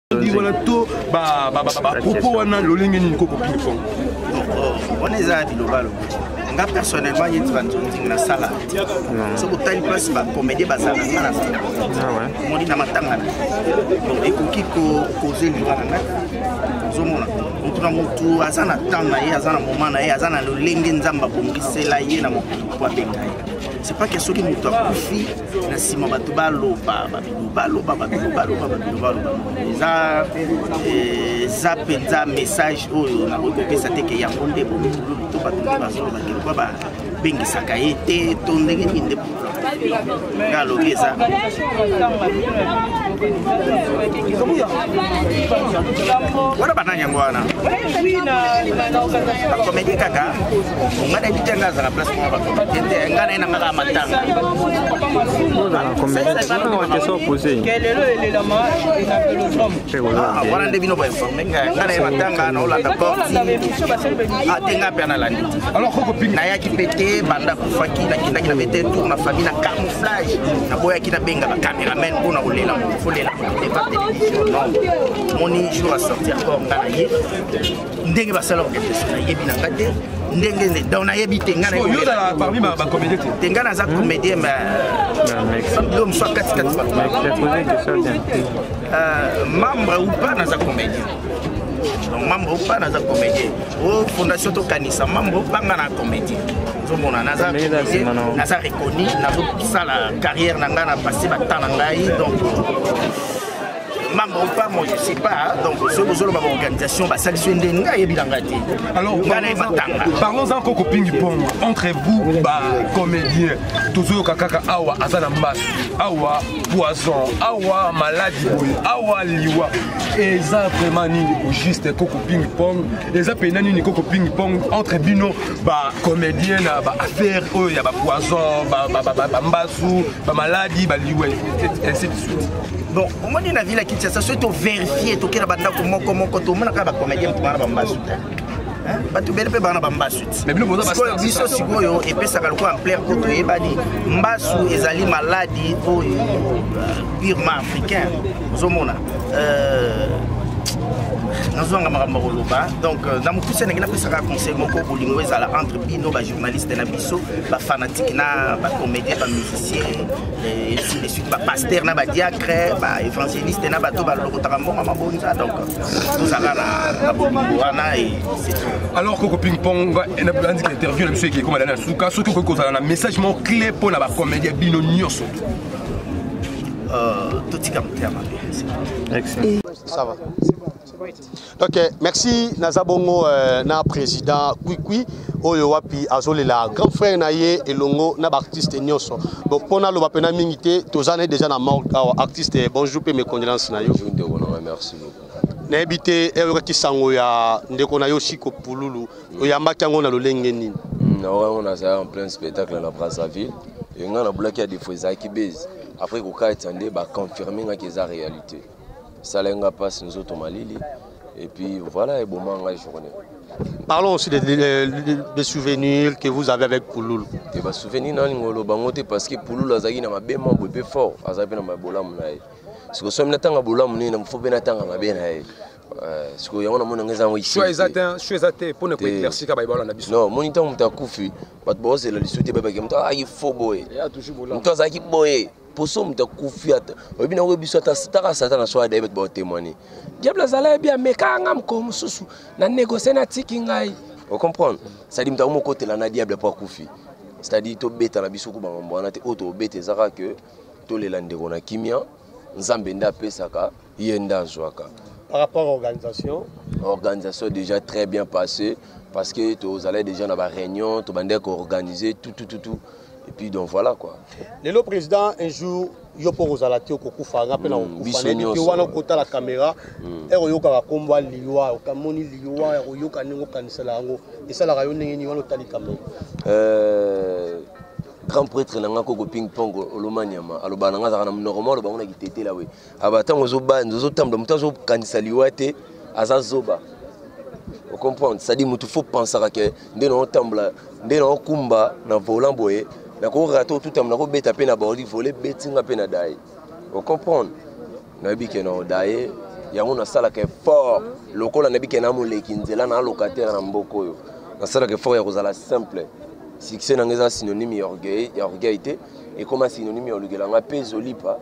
Di wana to ba ba ba ba propos wana lolenge nini koko ping pong. Wana eza bilobalo. nga personnellement ye tiba nzonzi na sala soki otali place bacomédie bazala nga na sala omoni na matanga na donc ekoki kokoze liwa na ngai ozomona motu na motu aza na temps na ye aza na moment na ye aza na lolenge nzambe abongisela ye na mokili po abenga ye c'est pas ke soki motu akufi na nsima bato baloba babino baloba babino baloba babino baloba eza eh, eza mpenza message oyo nakoki kopesa te ke yango nde bomikulumu to bato nde bazoloba ke lokwa babengisaka ye te to ndenge nini nde nga alobi eza wana banani yango wana bakomedi kaka nga na yebi te nga azala place moko bakomite te nga na ye na nga kaka matanga wana nde bino bainforme nga nga na ye matanga na olanda korti ate nga mpe analandi nayaki mpe te banda kufaki nakendaki na mete tour na famille na camouflage naboyaki nabenga bacameraman mpo na kolela mokofolela mokote ba television non moni jour asorti encore nga na ye ndenge basala orchestre nayebi na nga te ndenge nde donc nayebi te nga nayoyozala parmi bacomédien te te nga naza comédien yo mosu akatikati membre ou pas naza comédien donc membre ou pas naza comédien o fondation tokanisa membre ou pas nga na comédien ozomona naza naza reconnu nazosala carrière na ngai na passe batemps na ngai donc mambo pa moi je sais pas donc soki bozoloba baorganisation basalisi yo nde ngai yebi na ngai te ngai naye batanga parlons en koko pingi pongo entre vous bacomédien tozoyoka kaka awa aza na mbasi awa poison awa maladi boye awa liwa eza vraiment nini au juste koko pingi pong eza mpena nini koko pingi pong entre bino bacomédien na baaffaire oyo ya bapoison bambasu bamaladi baliwa ainsi de suite bon omoni na ville ya kinshasa soki toverifie tokela bandako moko moko tomonaka bacomédien moto bana bambasu te bato ebele mpe bana bambasu tisikoyo biso sikoyo epesaka lokola ampleur mpo toyebani mbasu ezali maladi oyo euh, purement africain ozomona euh, nazwanga makambo ya koloba donc euh, na mokuse ndenge napesaka conseil moko bolingo ezala entre bino bajournaliste na biso bafanatike na bacomédien bamusicien ainsi de suite bapaster na badiacre baévangéliste na bato balokotaka mbongo ya mabonza donc tozala na bolingo wana alors koko ping pong andika interview na biso eke ekoma na suka soki okoki kozala na message moko clé mpo na bacomédien bino nyonso euh, totika moteya mabe ça va ok merci naza bongo euh, na président kwikwi oyo wapi azolela grand frère na ye elongo na baartiste nyonso bon mpo naloba mpena mingi te toza naye déjà na morgue awa artiste bonjour mpe mes condoléances na yo ndeko na ngai merci beaucoup nayebi te eyokaki sango ya ndeko na yo siko pululu oyambaki yango na lolenge nini hmm, na oyo nazalaki en plein spectacle na brazzaville engai nabulaki ya defo ezalaki base après kokatisa nde baconfirme ngaki eza réalité esala nga mpasi nzoto malili et puis voilà eboma ngai journée Parlons aussi des, des, des, souvenirs que vous avez avec Pouloul. Des bah, souvenirs, non, ngolo bangote parce que Pouloul azaki na mabe mambo epe fort, azaki na mabola munaye. Ce que somme natanga bola munaye na mfobe natanga mabe na ye. Euh, ce que yango na mona ngeza ngo ici. Choix ezate, choix ezate pour ne pas éclaircir ka baibala na biso. Non, moni tango mutakufi, bat bozela lisute baba ke muta ayi faux boye. Ya toujours bola. Muta azaki boye. poso moto akufi ata oyebi na oyebi biso ata taka satana so adayebi ete baotemoigne diable azala yebi amekaka nga mokolo mosusu na négocie natiki ngai ocomprendre cestadi moto yango mokotela na diable mpo akufi cestadi tobeta na biso kuba mambo wana te oyo tobeta ezaka ke tolela ndeko na kimia nzambe nde apesaka ye nde azwaka par rapport à organisation organisation déjà très bien passé parce que tozalaki déjà na baréunion tobandaki koorganiser tutututu et puis donc voilà quoi lelo président un jour yo mpo kozala te okokufa nga mpe nakokufaete wana okotala kamera ere hmm. oyokaka nkombo ya liwa okamoni liwa ya koyoka ndenge okanisela yango esalaka yo ndenge nini wana otali kamera euh, grand prêtre na nga koko ping pong olomaniama alobaka na nga azalaka na monoko mwa alobango na kitetela we aba ah, ntango ozobanza ozotambola moto azokanisa liwa te aza zoba ocomprendre cestadire moto fo pensaka ke nde naotambola nde naokumba na volant boye nakorate otutama nakobeta mpe na bordi vole betinga mpe na daye ocomprendre nayebi ke na daye yango nasalaka effort lokola nayebi ke na moleki nzela na locataire na mboka oyo nasalaka effort ya kozala simple succès na ngai eza synonyme ya orgueil te ekoma synonyme ya olukela nga mpe ezolipa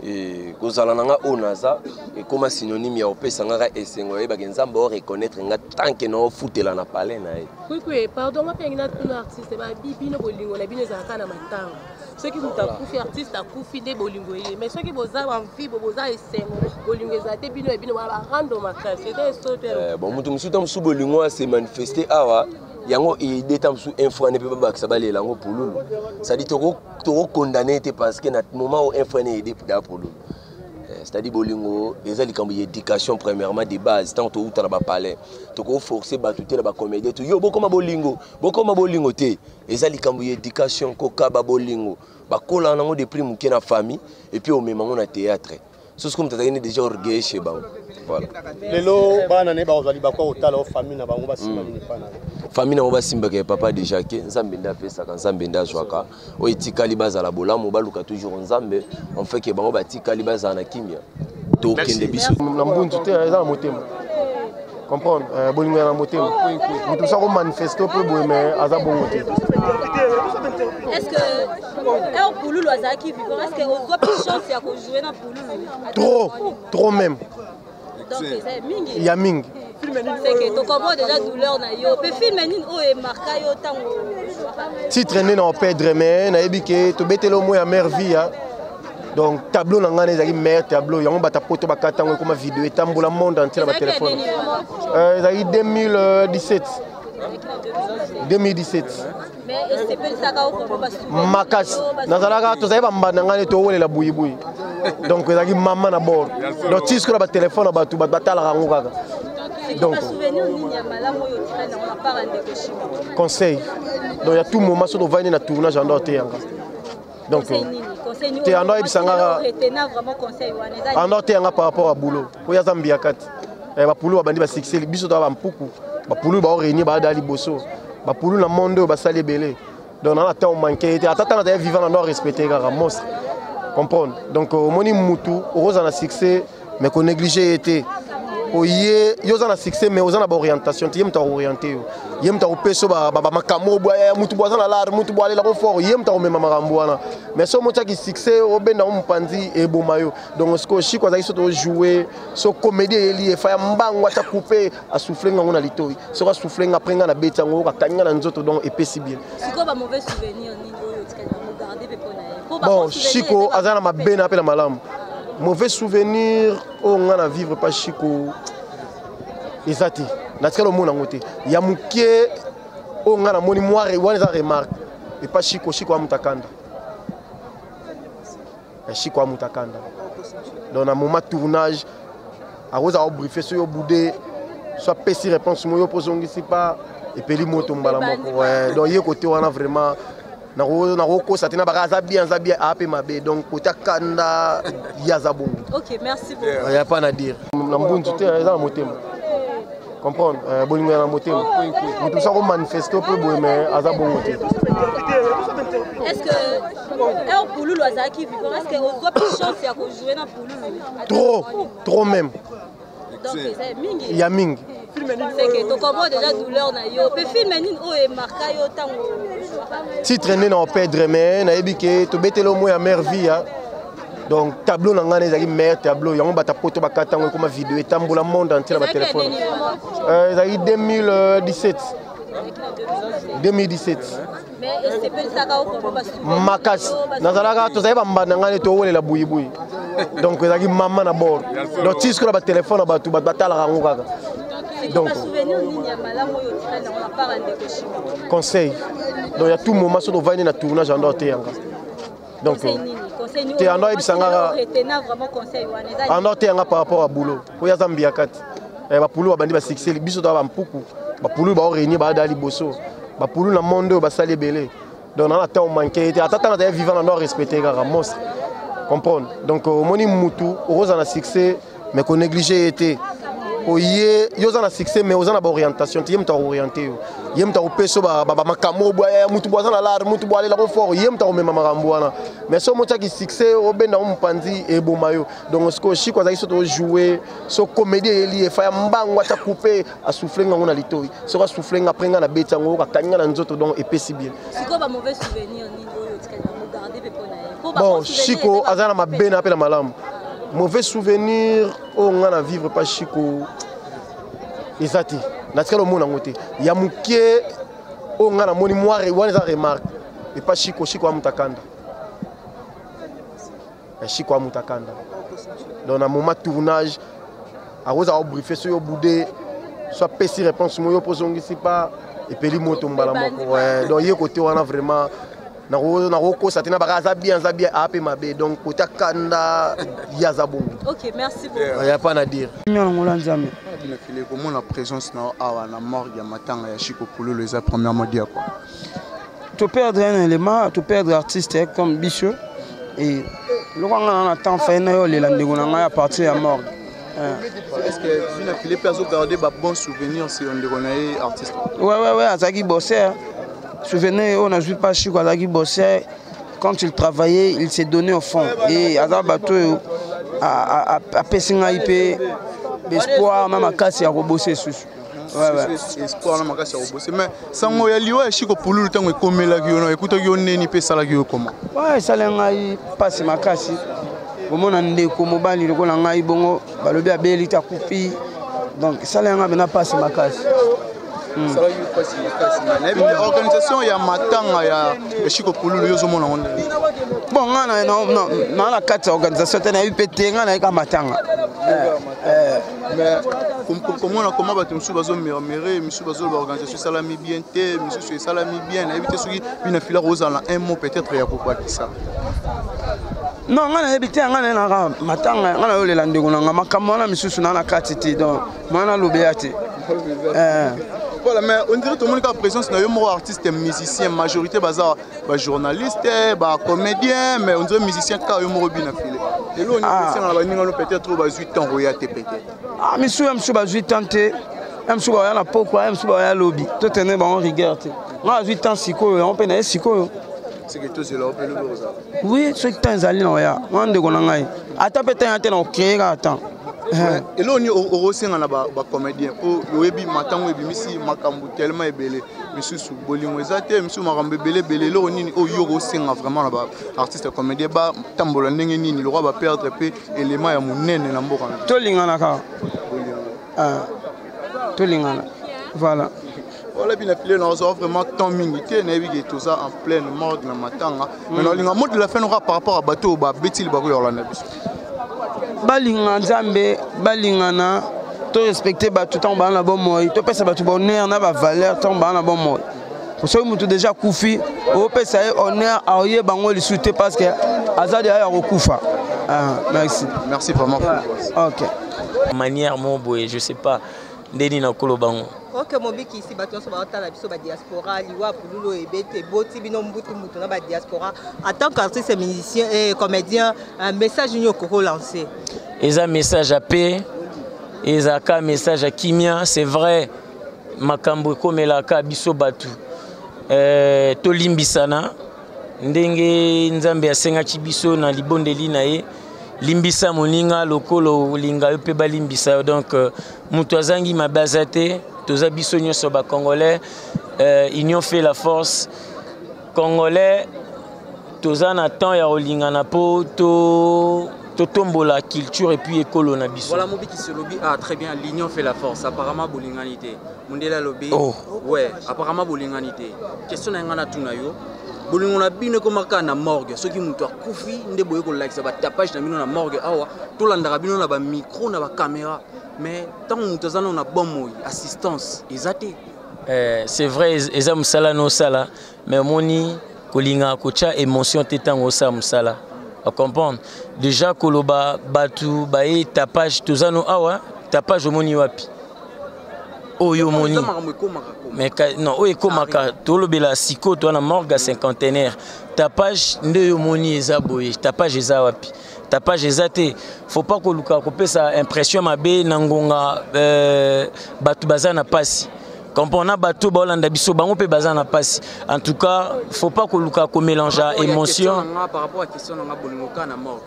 e, kozala na nga oyo naza ekoma synonyme ya opesa ngaka esengo yayebaki nzambe o reconnaître nga tanke na ofutela na palais na ye kwikwi pardon nga mpe yangi natuna artiste babi bino bolingo na bino ezalaka na matanga soki moto akufi artiste akufi nde bolingo eye mais soki boza bamfibo boza esengo bolingo eza te bino ya bino barando makasi eza esoto eh, bon moto mosusu ta mosusu bolingo ase manifeste awa yango ede ta mosusu infra ne mpe babakisa balela yango pululu cetadi tokokondane ete parce que na moment oyo infra ne ede da pululu eh, c'est-à-dire bolingo eza likambo ya éducation premièrement de base ntango towuta na bapalais tokoforce bato te na bacomédien to yo bokoma bolingo bokoma bolingo te eza likambo ya éducation kokaba bolingo bakolaka nango de prix moke na famille epuis omema yango na théâtre sosi comme tata yini déjà orgueil chez bango voilà lelo bana ne bakozali bakwa kotala o famille na bango basimba nini pana famille na bango basimbaka ya papa déjà ke nzambe nde apesaka nzambe nde azwaka oyo etikali bazala bolamu baluka toujours nzambe en fait ke bango batikali bazala na kimya tokende biso na mbunzu te eza na motema comprendre euh, bolingo ya na motema moto mosu akomanifeste mpe boye me aza bongo te trop trop même ya mingi titre nde na opedre me nayebi ke tobetela omo ya mare vie donc tableau na ngai na ezalaki meilleur tableau yango bata poto bakata yango ekoma video etambola monde entier na batelefone euh, ezalaki 2017 2017 makasi nazalaka tozalaki bambanda ngai neti owelela buyibuyi donc ezalaki mama na bord donc ti sikoyo na batelefone na bato bato batalaka yango kaka donc conseil donc ya tout moment soki ovandi na tournage ando oteyanga donc te ando ayebisa nga ando ateya nga par rapport ya boulot oyo aza mbiya kati eh, bapulu babandi basikseli biso toa bampuku bapulu bao réunir baada liboso bapulu na monde oyo basali ebele donc nana ntango manke ye te ata ntango azali vivant na no respecte kaka monstre comprendre donc omoni mutu okozala na succès mais ko négliger ye te po ye yo oza na succès mais oza na baorientation te ye moto akooriente yo ye moto akopesa yo bamakambo oyo bwaya motu bo aza na lare motu bo alelako fort ye moto akomema makambo wana mais so omotiaki succès obenda yango mopanzi eboma yo donc sikoyo shiko azalaki soki ojoue so comédie eyeli ye faya mbangu ata coupe asouffle ngango na litoi soki asouffle nga apres nga na beti yango okakani nga na nzoto donc epesi bien bon chico aza na mabe na mpe na malamu mauvais souvenir oyo ngai na vivre pa chico eza te natikala omona yango te ya moke oyo ngai namoni mwa wana eza remarque epa chico chico amutakanda ya shiko amuta kanda donc na moment tournage akozala kobriefe soki obude so apesi réponse moyo mpo ozongisi mpa epeli moto mbala moko donc ye kote wana vraiment nakokosa te na baka aza bien aza bien ape mabe donc kota kanda ye aza bongo ya pa na dire na mbunzu te eza na motema comprendre euh, bolingo ya na motema moto mosa komanifeste mpe boye me aza bongo te Heure Pululu azalaki vivant, est-ce que ozwa plus chance ya ko jouer na Pululu? Trop, trop même. Donc c'est mingi. Ya mingi. seke tokomo deja douleur na yo mpe filme nini oyo oh, emarka yo ntango titre nde na opedre mais nayebi ke tobeteli omo ya mare vie ya donc tableau na ngai ezalaki meilleur tableau yango bata poto bakata yango ekoma video etambola monde entier na batelefone euh, ezalaki 2017 2017 makasi nazalaka tozali bambanda ngai neti owelela buyibuyi donc ezalaki mama na bord donc ti sikoyo na batelefone na bato bato batalaka yango kaka donc conseil donc ya tout moment soki ovandi na tournage ando oteyanga donc te ando ayebisa nga ando ateya nga par rapport ya boulot oyo aza mbiya kati eh, bapulu babandi basikseli biso toa bampuku bapulu bao réunir baada liboso bapulu na monde oyo basali ebele donc nana ntango manke ye te ata ntango azali vivant na no respecte kaka monstre comprendre donc omoni mutu okozala na succès mais ko négliger ye te po ye yo oza na succès mais oza na baorientation te ye moto akooriente yo ye moto akopesa bamakambo boya motu bo aza na lare motu bo alelako fort ye moto akomema makambo wana mais soki motiaki succès obenda yango mopanzi eboma yo donc sikoyo shiko azalaki soki ojoue so comédie eyeli efa ya mbango ata coupe asouffle nga ngo na litoyi soki asouffle nga après nga na beti yango akangi nga na nzoto donc epesi bien sikoyo ba mauvais souvenir nini oyo otikali na mogarde mpe mpona ye bon chiko aza na mabe na mpe na malamu mauvais souvenir oyo nga na vivre pa chiko eza te natikali omona yango te ya moke oyo nga namoni mwa wana eza remarque epa chiko chiko amutakanda ya shiko amuta kanda donc na moment tournage akozala obriefe soki obude so apesi réponse moko yo mpo ozongisi mpa epeli moto mbala moko donc ye kote wana vraiment nakokosa te na baka aza bien aza bien ape mabe donc kote akanda ye aza bongo ya pa na dire nyonangola nzambe binafile komona présence na yo awa na morgue ya matanga ya shiko pululu eza premièrement dia kua toperdre un élément toperdre artiste eh, comme biso e loko nga na na temps faye na yo olela ndeko na ngai a partir ya morgue eh. est-ce que vina file mpe azogarde babon souvenir se yo ndeko na ye artiste wewewe azalaki bosser souvenir oyo nazwi mpa chiko azalaki bosser quand il travaillait il s'est donné au fond e aza bato oyo apesi ngai mpe espoir na makasi ya kobosa esusu espoir na makasi ya kobose mais sango ya liwa ya shiko pululu ntango ekomelaki yo na ekutaki yo neni mpe esalaki yo koma esali ngai mpasi makasi komona ndeko mobali lokola ngai bongo balobi abeli te akufi donc esali ngai mpena mpasi makasi hmm. organisation ya matanga ya shiko pululu yo ozomona ngo nde bon ngai na na kati ya organisation te nayebi mpe te ngai nayeka matanga eh, eh. mais komona koma bato mosusu bazomurmure misusu bazoloba organisation esalami bien te misusu esalami bien nayebi te soki bina fila kozala na un mot peut-être ya kokakisa non ngai nayebi te ngai nayenaka matanga ngai nayolela ndeko na ngai makambo wana misusu naa na kati te donc mwana nalobela te eh. voilà mais on dirait tomoni kaka présence na yo moko artiste musicien majorité baza ba journaliste ba comédien mais onzo musicien kaka yo moko bina file lelo oni ah. esengaka baninga no peut-être oyo bazwi temps koya te peut-être ah misu ya misu bazwi temps te ya misu baya na pokwa ya misu baya lobi totene bango rigueur te nga azwi temps sikoyo yango mpe na ye sikoyo oui soki temps ezali na oya nga ndeko na ngai ata mpe temps ya te na okreer ata Eh. eloko nini okosenga na bacomédien mpo oyebi matango ebimisi makambo telema ebele misusu bolingo eza te misusu makambo ebele ebele eloko nini oyo yo okosenga vraiment na baartiste comédien batambola ndenge nini lokwa baperdre mpe elema ya monene na mboka tolinganaka ah, tolingana voilà Voilà bien appelé na ozo vraiment temps mingi te na yebi que toza en pleine mode na matanga mais na linga mode de la fin aura par rapport à bateau ba betili ba ko yola na biso balinga nzambe balingana to respecter bato ntango baa na bomoi topesa bato bonheur na bavaleur ntango baa na bomoi soki moto deja akufi opesa ye honneur aoye bango lisusu te parce que aza deja ya kokufa ah, merci merci vraiment ok manière mo boye je sais pas nde nini nakoloba yango oke mobikisi bato nyonso baotala biso badiaspora liwa pululu oyo ebete eboti bino mbutu mbutu na badiaspora atant qu'artiste musicien e eh, comédien eh, message nini okokolancer eza message ya pe ezalaka message ya kimia c'est vrai makambo ekomelaka biso bato eh, tolimbisana ndenge nzambe asengaki biso na libondeli na ye limbisa moninga lokolo olinga yo mpe balimbisa yo donc euh, moto azangi mabe aza te toza biso nyonso bacongolais euh, union fait la force congolais toza na temps ya kolingana mpo to totombola culture epuis ekolo na biso voilà mobikisi olobi ah très bien l'union fait la force apparemment bolingani te mundele alobi oh. we apparemment bolingani te question na ngai natuna yo bolingo na bino ekoma kaka na morgue soki moto akufi nde boye kolakisa batapage na bino na morgue awa tolandaka bino na bamicro na bakamera mais ntango moto aza nao na bomoi assistance eza te eh, c'est vrai eza mosala na osala mais omoni kolingaka kotya émotion te ntango osala mosala ocomprendre déjà koloba bato baye tapage toza no awa tapage omoni wapi oyo omoni non oyo ekomaka tolobela sikoyo toa na morgue ya cinquantenaire tapage nde oyo omoni eza boye tapage eza wapi tapage eza te faut pas koluka kopesa impression mabe na ngonga euh, bato baza na mpasi Comprendre bateau ba Hollande biso bango pe baza na passe. En tout cas, faut pas ko luka ko mélanger émotion. Par rapport à question na bolingo ka na morgue.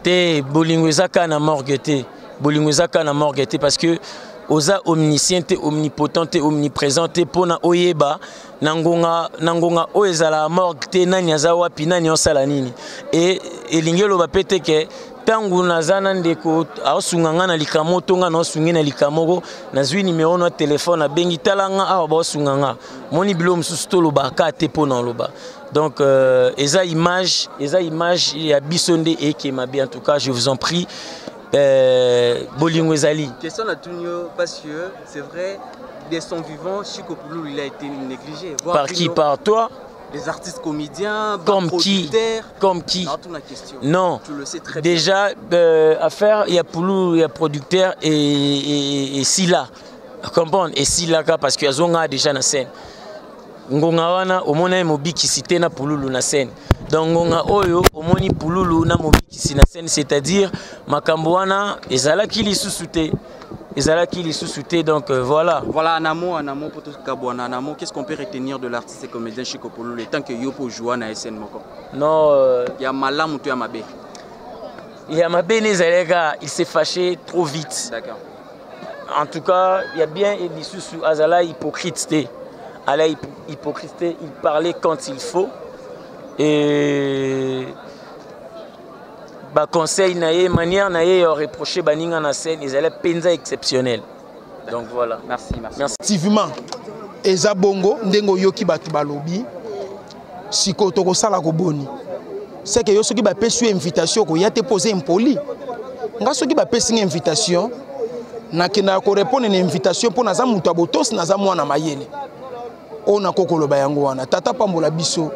Te bolingo eza ka na morgue te. Bolingo eza ka na morgue te parce que oza omniscient te omnipotent te omniprésent te pona oyeba na ngonga na ngonga oyo ezala morgue te nani aza wapi nani osala nini et elingi eloba pe te ke ntango naza na ndeko aosunga ngai na likamo to ngai naosungi na likamoko nazwi nimero na telefone abengi tala ngai awa baosunga ngai moni bilo mosusu tolobaka te mpo na oloba donc euh, eza image eza image ya biso nde ekema bien en tout cas je vous en prie euh, bolingo ezali question natuni yo parce que c'est vrai de son vivant chico pululu il a été négligé par qui par toi les artistes comédiens comme qui Comme qui Non. Déjà, euh, affaire, il y a Poulou, il y a producteur et, et, et Silla. Comprendre Et Silla, parce qu'il y a Zonga déjà dans la scène. ngonga wana omona ye mobikisi te na pululu na scène donc ngonga oyo omoni pululu na mobikisi na scène c'est-à-dire makambo wana ezalaki lisusu te ezalaki lisusu te donc euh, voilà voilà en amont en amont poto kabwana en amont qu'est-ce qu'on peut retenir de l'artiste et comédien Chico Pololo tant que yo po joua na SN moko non euh... ya malamu to ya mabe ya mabe ne ezalaki kaka il s'est fâché trop vite d'accord en tout cas ya bien et lisusu azala hypocrite te ala hypocrite te il parlait quand il faut et ba conseil na ye manière na ye ya reprocher baninga na scène ezali mpenza exceptionnel donc voilà merci merci effectivement eza bongo ndenge oyoki bato balobi sikoyo tokosala koboni seke yo soki bapesi yo invitation okoya te mpo oza impoli nga soki bapesi nga invitation nakendaka korepondre na invitation mpo naza moto ya botosi naza mwana mayele oyo nakoki koloba yango wana tata pambola biso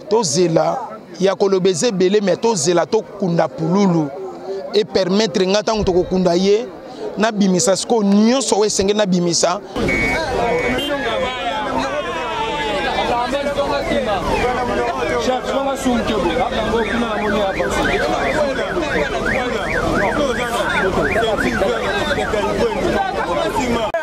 tozela ya koloba eza ebele me tozela tokunda pululu epermettre ngai ntango tokokunda ye nabimisa sikoyo nyonso oyo esengeli nabimisa Thank you.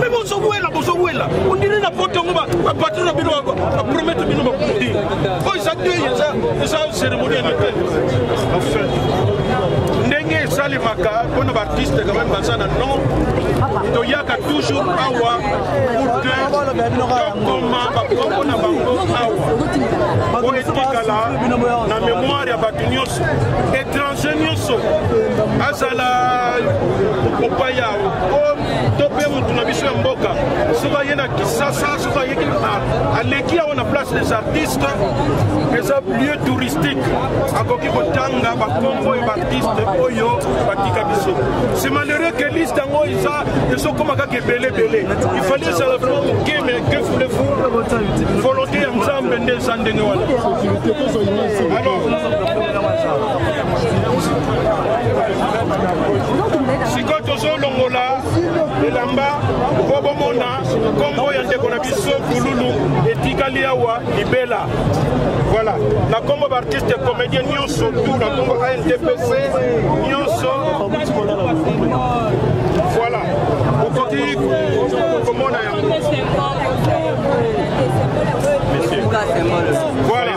me bozowela bozowela ondire na poto yango bapatro na bino bapromete bino bakundi oyo eza te eza cérémonie ya mete ndenge esalemaka mpo na baartiste quand même baza na non toyaka toujours awa pour que tokoma bakombo na bango awa mpo etikala na mémoire ya bato nyonso étranger nyonso azala mopaya to mpe motu na biso ya mboka soki aye na kisasa soki ayeki aleki yango na place des artistes eza lieu touristique akoki kotanga bakombo ya baartiste oyo batika biso c'est malheureux que liste yango eza ezokoma kaka ebelebele ifali ezala vraiment moke mais que voulez-vous volonté ya nzambe nde eza ndenge wana alors sikoyo tozolongola elamba mpo bomona nkombo ya ndeko na biso bululu etikali awa libela voilà na nkombo baartiste comédien nyonso tu na nkombo antpc nyonso voilà okoki komona yango voilà